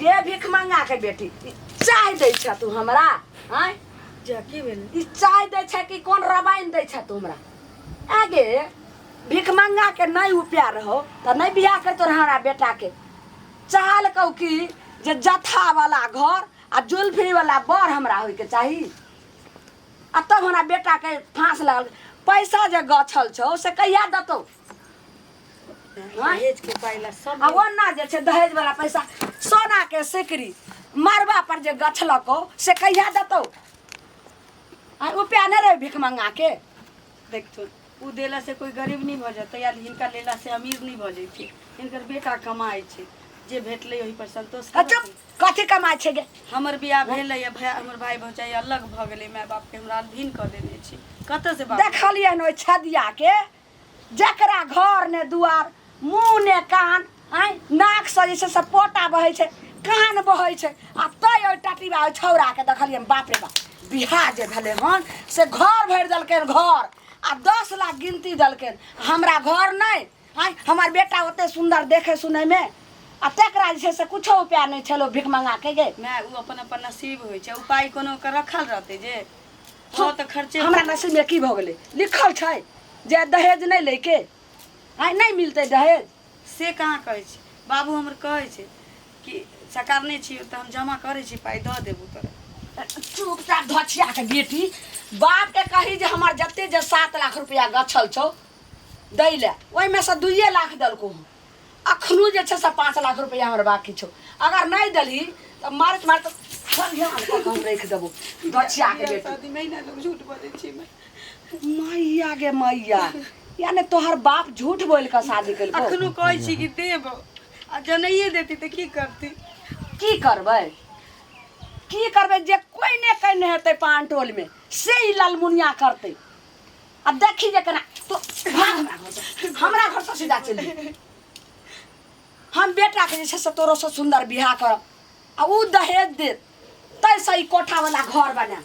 के भीख मंगा के बेटी ई चाय दै छ तू हमरा आय जा की भेल ई चाय दै छ कि कोन रवाइन दै छ तू हमरा आगे भीख मंगा के नहीं उपाय रहो त नहीं बियाह कर तोर हमरा बेटा के चाहल कहू कि जे जथा वाला घर आ जुल्फी वाला बर हमरा होय के चाही आ तब हमरा बेटा के फांस लागल पैसा जे गछल छौ से कहिया देतौ दहेज के पाइ ला सब आ ओना जे छै दहेज वाला पैसा सोना के सिकरी मरबा पर जे गछलको से कहिया देतौ आ रुपया नहि रहे भिख मंगा के देखथुन ओ देला से कोई गरीब नहीं भऽ जेतै या हिनका लेला से अमीर नहीं भऽ जैतै हिनकर बेटा कमाइ छै जे भेटलै ओहि पर संतोष आ चुप करथि। कथी कमाइ छै गे हमर बियाह भेलै या भाय हमर भाय भौजाइ अलग भऽ गेलै माय बाप के हमरा अधीन कऽ देने छै कतऽ से बाप देखलियन ओहि छदिया के जकरा घर ने दुआर मुँह ने कान आँय नाकसँ जे छै से पोटा बहै छै कान बहै छै आ तै ओहि टटिबा ओहि छौड़ाके देखलियै हम, बाप रे बाप बियाह जे भेलै हन से घर भरि देलकै हन घर आ दस लाख गिनती देलकै हन। हमरा घर नहि आँय हमर बेटा ओते सुन्दर देखै सुनैमे आ तकरा जे छै से किछो उपाय नहि छलै ओ भिखमङ्गाके गे माय ओ अपन अपन नसीब होइ छै उपाय कोनो ओकर रखल रहतै जे हाँ तऽ खर्चे हमरा नसीब में की भऽ गेलै लिखल छै जे दहेज नहि लैके आइ नहि मिलतै दहेज से कहाँ कहै छी बाबू हमर कहै छै कि सकारने छी तऽ हम जमा करै छी पाइ दऽ देबू तोरा चुपचाप धछिया के बेटी बाप के कही जे हमर जते जे सात लाख रुपया गछल छौ दै ले ओहिमे से दुइए लाख देलको हँ अखनो जे छै से पाँच लाख रुपैआ हमर बाकी छौ अगर नहि देलही तऽ मारैत मारैत संगे हाथ कऽ कऽ हम राखि देबौ गछियाके बेटी शादी में ही ना लोग झूठ बोले छी मैं मैया गे मैया यानी तोहर बाप झूठ बोल कऽ शादी केलको अखनो कहै छी कि देब आ जनैये देती तऽ की करती की करबै की करबै जे कोइ ने कने हेतै पान टोलमे से ई ललमुनिया करतै आ देखी जे केना तो भाग हमरा घर से। हमरा घर से सीधा चलि जेबही। हम बेटा के जे छै से तोरो से सुंदर बियाह करब आ ऊ दहेज दे तै से ई कोठा वाला घर बना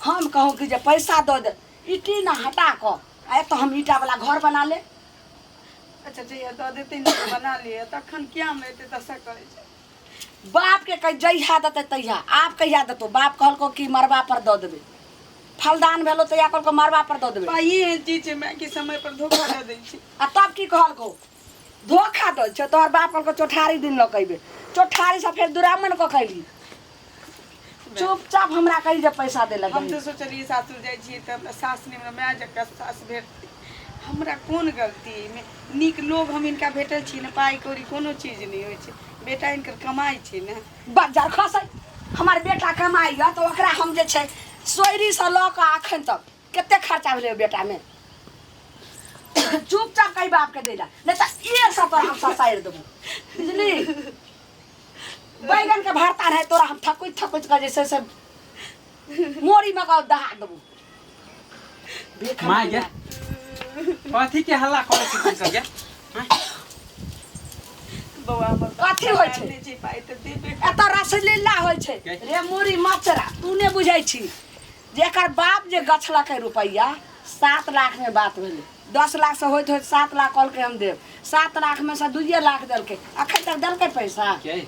हम कहूँ कि जे पैसा दऽ दे ई टीना हटा कऽ आ एतऽ हम ईटा वाला घर बना ले अच्छा चाहिए दऽ देतै ने तऽ बना लिए तखन किया हम एते दशा करै छै बाप के कह जहिया देते तहिया आप कहिया देतो बाप कहलको कि मरबा पर दऽ देबे फलदान भेलो तहिया कहलको मरबा पर दऽ देबे भाई एहन चीज छै माय कि समय पर धोखा दऽ दै छै आ तब की कहलको धोखा दै छै तोहर बाप कहलको चौठारी दिन लऽ के अयबै चौठारीसँ फेर दुरामन कऽ के अयली चुपचाप हमरा कही जे पैसा दे लगे हम तो सोचलिए सासुर जाए छी त हमरा सास ने हमरा माय जका सास भेटती हमरा कोन गलती एहिमे नीक लोग हम इनका भेटल छी ने पाई कौड़ी कोनो चीज नहीं होय छै बेटा इनकर कमाई छै ने बजार खसै हमार बेटा कमाई है तो ओकरा हम जे छै सोयरी से लऽ कऽ अखन तक कते खर्चा भेलै ओहि बेटा में चुपचाप कही बाप के दे ला नहीं तो एक सौ तोरा हम ससारि देबो बुझली बैगन के भरता रहे तोरा हम थकुच थकुच कर जैसे से मोरी में का दहा देबो भीख माय गे मांगेला। कथी के हल्ला करे छी तू सब गे बौआ हमर कथी होइ छै? नहि जी पाइ तऽ देबे एतऽ रसलीला होइ छै रे मोरी मचरा तू ने बुझै छी जेकर बाप जे गछलकै रुपैया सात लाख में बात भेलै दस लाख से होइत होइत सात लाख कहलकै हम देब सात लाख में से दुइये लाख देलकै अखन तक देलकै पैसा के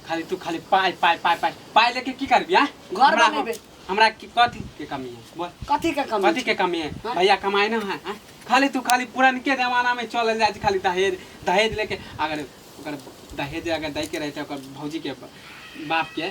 खाली तू खाली पाइ पाइ पाइ पाइ पाइ लेके की करबी आ घर हमरा बनेबै। हमरा की कथी के कमी है बोल कथी के कमी कथी के कमी है हाँ। भैया कमाई ना है हाँ? खाली तू खाली पुरनके जमाना में चलल जाइ छै खाली दहेज दहेज लेके अगर ओकर दहेज अगर दै के रहते ओकर भौजी के बाप के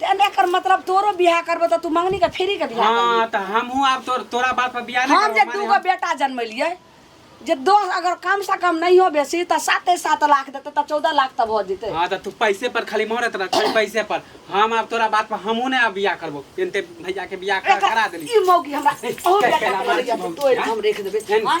ते ने कर मतलब तोरो बियाह करबो त तू मंगनी के फ्री के बियाह करबी हाँ तो हमहू अब तोर तोरा बात पर बियाह नहीं हम जे करबो, माने दू गो हम- बेटा जनमेलियै जे दोस्त अगर कम से कम नहीं हो बेसी त साते सात लाख देते त चौदह लाख तब हो जेते हाँ तो तू पैसे पर खाली मोहरत रह खाली पैसे पर हम अब तोरा बात पर हमहू ने अब बियाह करबो इनते भैया के बियाह कर- करा देली ई मौकी हमरा ओ बेटा के लड़ैया तो तोड़ हम रख देबे एहन- हाँ?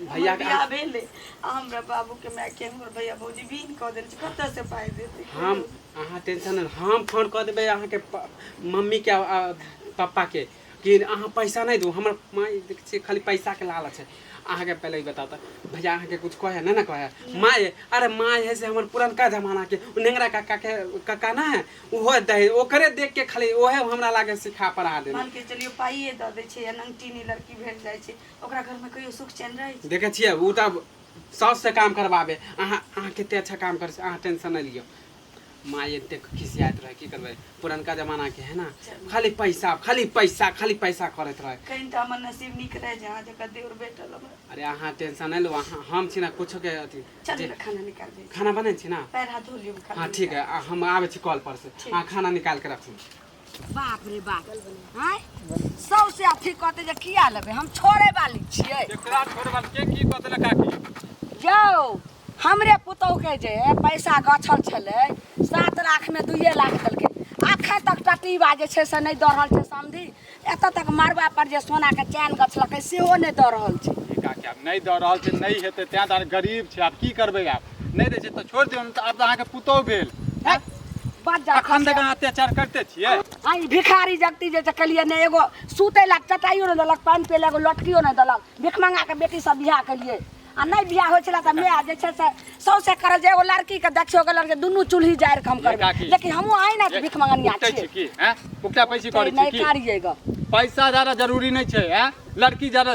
भैया भैया के बियाह भेलै आ हमरा बाबू के माय के हमर भैया भौजी बीन कऽ देल छै कतऽ से पाइ देतै हम अहाँ टेंशन नहि हम फोन कऽ देबै अहाँके प- मम्मीके आ- आ पप्पाके कि अहाँ पैसा नहि दू हमर माय देखै छियै खाली पैसाके लालच छै अहाँके पहिले ई बताउ तऽ भैया अहाँके कुछ कहै नहि ने कहै माय अरे माय है से हमर पुरनका जमानाके ओ नेंगरा काकाके काका ना है ओहो दे ओकरे देख के खाली ओहे हमरा लागे सिखा पढ़ा देने मान के चलियो पाइए दऽ दै छै या नंगटीनी लड़की भेट जाइ छै ओकरा घर में कहियो सुख चैन रहे छै देखे छियै उ त साउस से काम करवाबे अहाँ अहाँ कते अच्छा काम कर अहाँ टेंशन नहीं लियो माँ ये देख खिसियात रहे की करबे पुरनका जमाना के है ना खाली पैसा खाली पैसा खाली पैसा करत रहे कहीं तो हमर नसीब निक रहे जे अहाँ जका देवर बेटल हमरा अरे अहाँ टेंशन नहीं लो अहाँ हम छी ना कुछो के अथी चल जे- हमरा खाना निकाल दे खाना बने छी ना पैर हाथ धो लियो हम खाना हाँ ठीक है आ, हम आबे छी कॉल पर से ठीक। अहाँ खाना निकाल के रखू बाप रे बाप हैं सबसे अथी कहते जे किया लेबे हम छोड़े वाली छियै एकरा छोड़बा के की कहते ना काकी यौ हमरे पुतौह के जे पैसा गछल छलै सात लाख में दुइए लाख देलकै अखन तक टटीबा जे छै से नहि दऽ रहल छै समझी एतऽ तक मड़बा पर जे सोना के चैन गछलकै सेहो नहि दऽ रहल छै ई काकी आब नहि दऽ रहल छै नहि हेतै तें दुआरे गरीब छै आब की करबै आब नहि दै छै तऽ छोड़ि दियौ ने तऽ आब तऽ अहाँके पुतोहु भेल हैं? बात जा अखन तक अहाँ अत्याचार करते छियै आ ई भिखारी जगती जे छै केलिए ने एगो सुतै लए चटाइयो ने देलक पानि पिए लए एगो लटकियो ने देलक भिखमंगा के बेटी सब बियाह केलिए आ नहि बियाह होइ छलै तऽ माय जे छै से सौसे करल जे एगो लड़की के देखियो गेल जे दुनू चूल्ही जारि के हम ये करबै काकी। लेकिन हमहूँ अहिना से भिखमंगनिया उगतै छियै छी की हैं? उगता पैसी करै छी नहि की कारिए गऽ पैसा ज्यादा जरूरी नहीं छै हैं? लड़की ज्यादा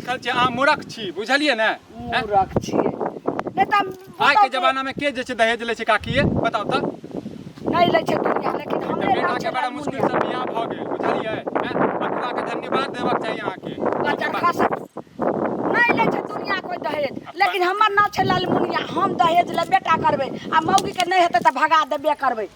कहै छै अहाँ मूर्ख छी बुझलियै ने मूर्ख छी नहि तऽ आइ के जमाना में के जे छै दहेज लै छै काकी ये बताउ तऽ नहि लै छै दुनिया लेकिन हमरे बेटा के बड़ा मुश्किल से बियाह भऽ गेल बुझलियै बच्चा के धन्यवाद देबाक चाही अहाँ के बच्चा खा सक नहि लै छै दुनिया कोई दहेज लेकिन हमर नाम छै लालमुनिया हम दहेज ले बेटा करबै आ मौगी के नहि हेतै तऽ भगा देबे करबै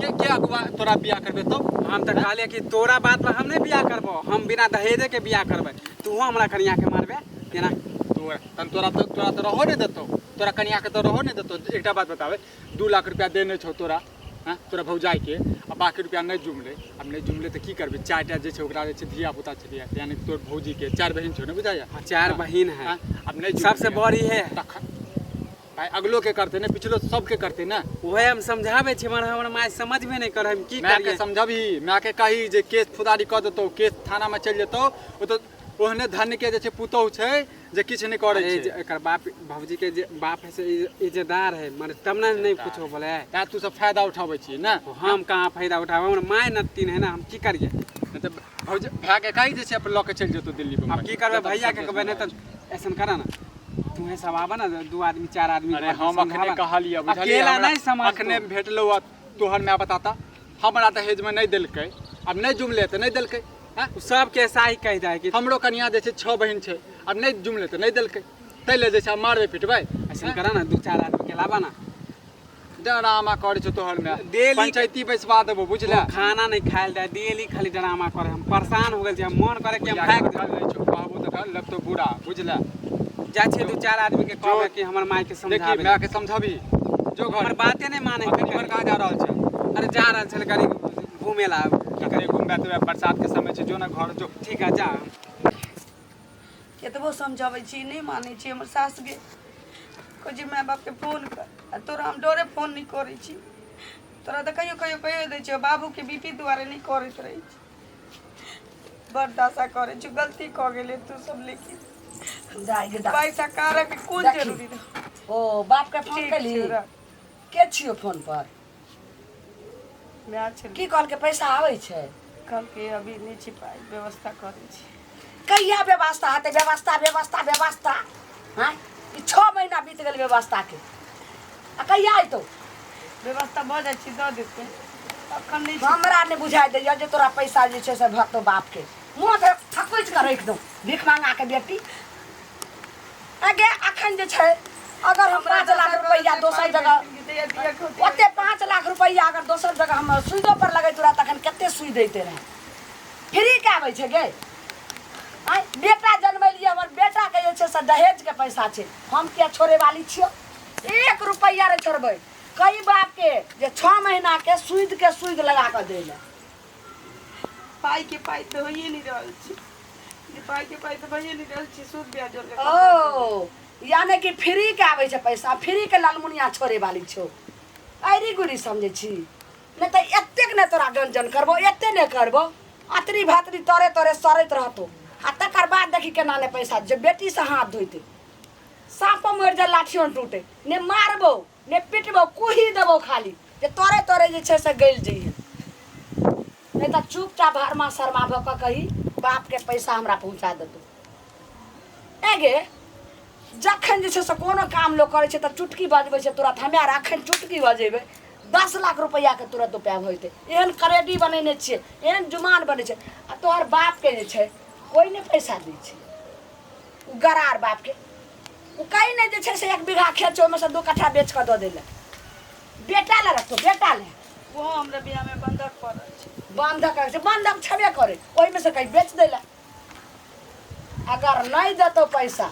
के के अगुआ तोरा बियाह करबे तो हम तऽ कहलियै कि तोरा बात पर हम नहि बियाह करबो हम बिना दहेजे के बियाह करबै तूहो हमरा कनिया के मारबे केना तोरा तन तोरा तो तोरा तो रहो नहि देतो तोरा कनिया के तो रहो नहि देतो एकटा बात बताबे दू लाख रुपया देने छौ तोरा हँ तोरा भौजाई के आ बाकी रुपया नहि जुमले आब नहि जुमले तऽ की करबे चारि टा जे छै ओकरा जे छै धिया पुता छै धिया यानी तोर भौजी के चारि बहिन छौ ने बुझाइया चार बहिन है आब नहि जुमले। सबसे बड़ी है तखन आइ अगलो के करते ने पिछलो सबके करते ने ओहे हम समझाबै छी मगर हमर माय समझबे नहि करै हम की माय के करियै समझबही माय के कही जे केस फुदारी कऽ देतौ केस थाना में चलि जेतौ ओ तऽ ओहने धन्य के जे छै पुतोहु छै जे किछु नहि करै अरे छै जे एकर बाप भौजी के जे बाप है से इज- इज्जतदार है मगर तब ने नहीं कुछो बोले है तैं तू सब फायदा उठाबै छी ने हम कहाँ फायदा उठाबै हमर माय नतिन है ना हम की करियै नहि तऽ भौज भए के कही जे छै अपन लऽ के चलि जेतौ दिल्ली अब बम्बई की करबे भैया के कहबे नहीं तो ऐसा करा ना तुम्हें सब आबा ना दू आदमी चार आदमी अरे हम अखने कहलिए अकेला नहीं समझ अखने भेटलो आ तोहर माय बताता हमरा दहेज में नहीं देलकै अब नहीं जुमले तऽ नहीं देलकै हैं? सब के ऐसा ही कह दे कि हमरो कनिया जे छै छह बहिन छै अब नहीं जुमले तऽ नहीं देलकै ताहि ले जे छै आब मारबै पिटबै ऐसा करा ना दू चार आदमी के लाबा ना डरामा करे छो तोहर में डेली- पंचायती बैसवा देबो बुझला वो खाना नहीं खायल दे डेली खाली ड्रामा करे हम परेशान हो गए छी, हम मन करे कि हम भाग जाए। डर नहीं छो कहबो तो डर लगतो बुरा बुझला जाए छी दू चार आदमी के कहबे कि हमर माई के देखी समझाबे मैं के समझाबी जो घर हमर बाते नहीं माने अपनी घर कहाँ जा रहल छै अरे जा रहल छल करी घूमे ला की करे घूमबे तो बरसात के समय छै जो ना घर जो ठीक है जा केतबो समझाबै छी नहि मानै छी हमर सासुके कहै छी माय बापके फोन कर आ तोरा हम डरे फोन नहि करै छी तोरा तऽ कहियो कहियो कहियो दै छियौ बाबूके बी पी दुआरे नहि करैत रहै छी बड़ दशा करै छी गलती कऽ गेलै तू सब लेकिन जाएगी दा पैसा कारक कोन देखी। जरूरी रह ओ बाप के फोन ठीक केली छै, रख। के छियो फोन पर माय छलै की कहलकै पैसा आबै छै कहलकै अभी नहि छै पाइ व्यवस्था करै छी कहिया व्यवस्था हेतै व्यवस्था व्यवस्था व्यवस्था हाँ ई छः महीना बीत गेल व्यवस्थाके आ कहिया अयतौ व्यवस्था भऽ जाइ छै दऽ देतै अखन नहि छै हमरा नहि बुझाइ दैया जे तोरा पैसा जे छै से भरतौ बापके मुँह तऽ थकुच कऽ राखि दौ भीख मांगा के बेटी आगे अखन जे छै अगर हम पाँच लाख रुपैआ दोसर जगह ओते पाँच लाख रुपैआ अगर दोसर जगह हम सुइदो पर लगैत रहा तखन कते सुई दैते रहे फ्री के आबै छै गे आँय बेटा जनमेलियै हमर बेटाके जे छै से दहेजके पैसा छै हम किया छोड़े वाली छियौ एक रुपैआ नहि छोड़बै कई बापके जे छओ महीनाके सूदिके सूद लगा कऽ दै लए पाई के पाई तो होइए नहीं रहल छी जे पाई के पाई तो भइए नहीं रहल छी सूद ब्याज जोड़ के ओ यानी कि फ्री के आबै छै पैसा फ्री के लालमुनिया छोड़े वाली छौ अरे गुरी समझै छी नहि तऽ एतेक नहि तोरा गंजन करबो एते नहि करबो अतरी भातरी तोरे तोरे सड़ैत रहतो आ तकर बाद देखी केना नहि पैसा जे बेटीसँ हाथ धोते साँपो मरि जाए लाठियो नहि टूटे नहि मारबो ने पिटबो कुही देबो खाली जे तोरे तोरे जे छै से गलि जइहे नहि तऽ चुपचाप हरमा शर्मा भऽ कऽ कही बापके पैसा हमरा पहुँचा देतौ एगे जखन जे छै से कोनो काम लोक करै छै तऽ चुटकी बजबै छै तुरत हमे आर अखन चुटकी बजेबै दस लाख रुपैआके तुरत उपाय भऽ जेतै एहन करेडी बनेने छियै एहन जुमान बनै छै आ तोहर बापके जे छै कोइ नहि पैसा दै छै गरार बापके ओ कहीं नहीं जे छै से एक बीघा खेत छै ओहिमे से दू कट्ठा बेच कऽ दऽ देले बेटा ले रखतो बेटा ले ओहो हमरा बियाह में बंधक पड़ल छै बंधक रख बंधक छेबे करे ओहिमे से कहीं बेच देले अगर नहीं देतो पैसा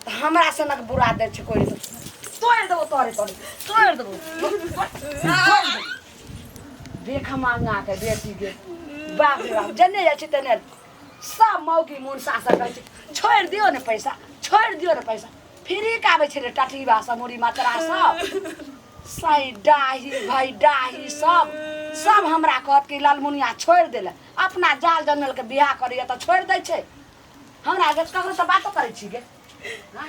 तो हमरा से नक बुरा दे छै कोई तो तोड़ देबो तोरे तोरे तोड़ देबो तोड़ देबो। देख मांगा के बेटी के बाप रे बाप जने जाइ छै तने सब मौगी मुन सासर कहै छै छोड़ि दियौ ने पैसा छोड़ि दियौ ने पैसा फ्री के आबै छै रे टटीबा सब मुड़ी मतरा सब सही डाही भाई डाही सब सब हमरा कहत कि लालमुनिया छोड़ि देले अपना जाल जनल के बियाह करैया तऽ छोड़ि दै छै हमरा जे ककरो से बातो करै छी गे हाँ?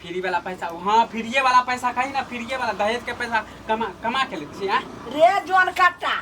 फ्री वाला पैसा हाँ फ्रीए वाला पैसा कही ना फ्रीए वाला दहेज के पैसा कमा कमा के लेती हैं रे जोन कट्टा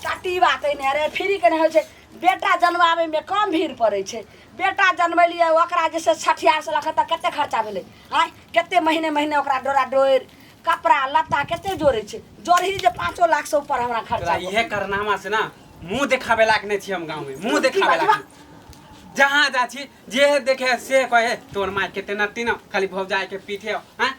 कट्टी बात है ने रे फ्री के ने होइ छै बेटा जनवावे में कम भीड़ पड़े छै बेटा जनबेलिए ओकरा जैसे छठियार से लखत कते खर्चा भेलै आय कते महीने महीने ओकरा डोरा डोर कपड़ा लत्ता कते जोड़े छै जोड़ही जे पाँचो लाख से ऊपर हमरा खर्चा तोरा इहे करनामा से ना मुंह देखावे लायक नहीं छी हम गांव में मुंह की देखावे बाजबा? लायक जहाँ जा छी जे है देखे है से कहे है तोर माय के तेना तीन खाली भौजाई के पीठे हैं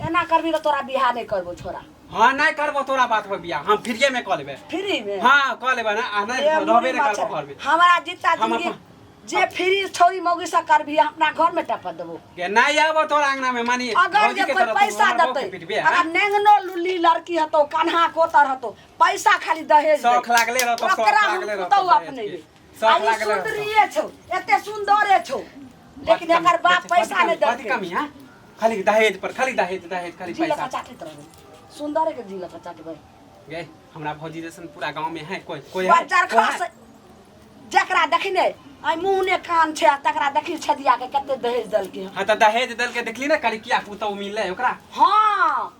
एना करबी तो तोरा बियाह नहीं करबो छोरा हाँ नहीं करबो तोरा बात पर बियाह हम फ्रीए में कर लेबे फ्री में हाँ कर लेबे ना आ नहीं ए, रहबे नहीं मच्छर। करबो घर में हमारा जितना हम जिंदगी अपन- जे फ्री छोरी मौगी से करबी अपना घर में टपा देबो के नहीं आबो तोरा अंगना में मानी अगर भौजी जे के कोई तरफ पैसा हमर बाप के देते पीटबे, हाँ? अगर नेंगनो लुली लड़की हतो कन्हा कोतर हतो पैसा खाली दहेज शौक दे। लागले रहतो, शौक ओकरा हम लागले रहतो पुतौ दहेज अपने के। ले। सब अरे लागल रहत। सुंदरिये छौ एते सुंदरे छौ लेकिन कम- एकर बाप कथी- पैसा कथी- नहि कथी कमी देलकै है खाली दहेज पर खाली दहेज दहेज खाली जिला पैसा चाटैत रहबै सुंदरे के जिला चाटबै गए हमरा भौजी जैसन पूरा गांव में है कोई कोई है बच्चार कोई खास है? जकरा देखने आइ मुंह ने कान छै आ तकरा देखी छदिया के कते दहेज देलकै हँ तऽ दहेज देलके देखली ना करी किया पुतौ मिलले ओकरा हँ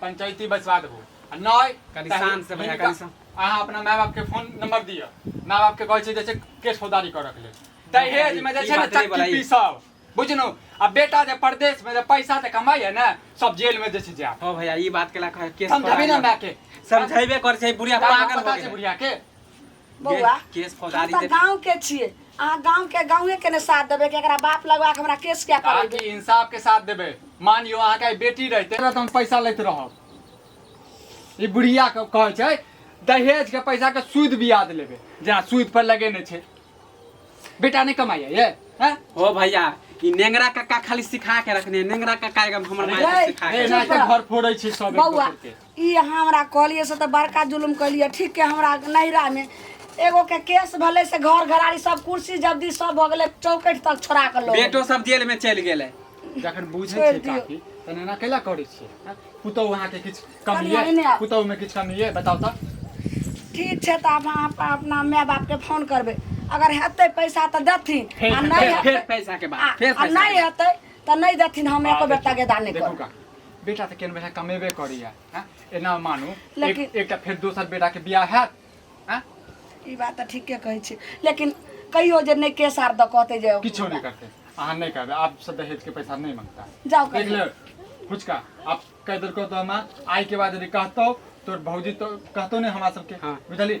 पंचायती बैसवा देबो आ नहि कनि तऽ शान्त से भैया, हिनका- कनि शान्त। अहाँ अपना माय बाप के फोन नंबर दिअ माय बाप के कहै छै जैसे केस फौदारी करऽ के लेल दहेज में जे ई छै ने बात नहि बोलाई। चक्की पीसब बुझनु आ बेटा जे प्रदेश में जे पैसा जे कमाई है ने सब जेल में जे छै जाए हो भैया ई बात केला कहे केस समझाबी ना माय के समझेबे कर छै बुढ़िया पागल हो पता छै गेल बुढ़िया के बौआ केस हम फौजदारी तो दे गांव के छिए अहाँ गांव के गांवे के ने साथ देबे कि एकरा बाप लगवा के हमरा केस क्या आके करेबे इंसाफ के साथ देबे मानियो अहाँ के बेटी रहते त हम पैसा लैत रहब ई बुढ़िया के कहै छै दहेज के पैसा के सूद ब्याज लेबे जेना सूद पर लगेने छै बेटा नहि कमाइए ये हैं? हो भैया ई नेंगरा कक्का खाली सिखा के रखने नेंगरा कक्का एकदम हमर माय के रे, सिखा ए, के ना तऽ घर फोड़ै छै सब एक बौआ दोसर के। ई अहाँ हमरा कहलियै से तऽ बड़का जुलुम कलियै ठीक के हमरा नैहरामे एगो के केस भेलै से घर घराड़ी सब कुर्सी जब्दी सब भऽ गेलै चौकठ तक छोड़ा कऽ लऽ गेलै। बेटो सब जेल में चलि गेलै जखन बुझै छोड़ि छै दियौ। काकी तहन एना कैला करै छियै हँ? पुतहु अहाँके किछु कमी कनी अइ एने आउ। पुतहुमे किछु कमी अइ बताउ तऽ ठीक छै तऽ आब अहाँ अपन अपना माय बापके फोन करबै अगर हेतै पैसा तऽ देथिन फेर- आ नहि फेर- हेतै फेर पैसा के बात, आ- फेर आ पैसा के नहि बात। हेतै तऽ नहि देथिन हम एको बेर तगेदा नहि देखू करब काकी बेटा तऽ केन बेटा कमेबे करैए हँ एना मानू एक- लेकिन- एकटा फेर दोसर बेटाके बियाह हैत हँ ई बात तऽ ठीके कहै छी लेकिन कहियो जे नहि केस आर दऽ कहते जे किछो नहि करतै अहाँ नहि करबै आपसँ दहेजके पैसा नहि मांगता जाओ देख कहियो। ले फुचका आप कह देलको तो हमार आय के बाद यदि कहतो तोर भौजी तो कहतो नहीं हमारा सबके हाँ। बुझली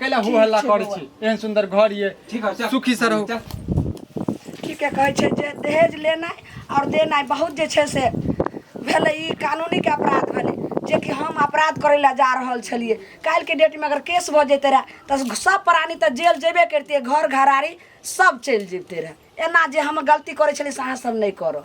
कैला हो हल्ला करै छी एहन सुंदर घर ये ठीक है चल सुखी से रहू चल ठीके कहै छै जे दहेज लेनाइ आओर देनाइ बहुत जे छै से भेलै ई कानूनीके अपराध भेलै जेकि हम अपराध करै लए जा रहल छलिए काल्हिके डेटमे अगर केस भऽ जैते रहए तऽ सब प्राणी तऽ जेल जेबे करितिए घर घरारी सब चलि जैते रहए एना जे हम गलती करै छलिए से अहाँसब नहि करब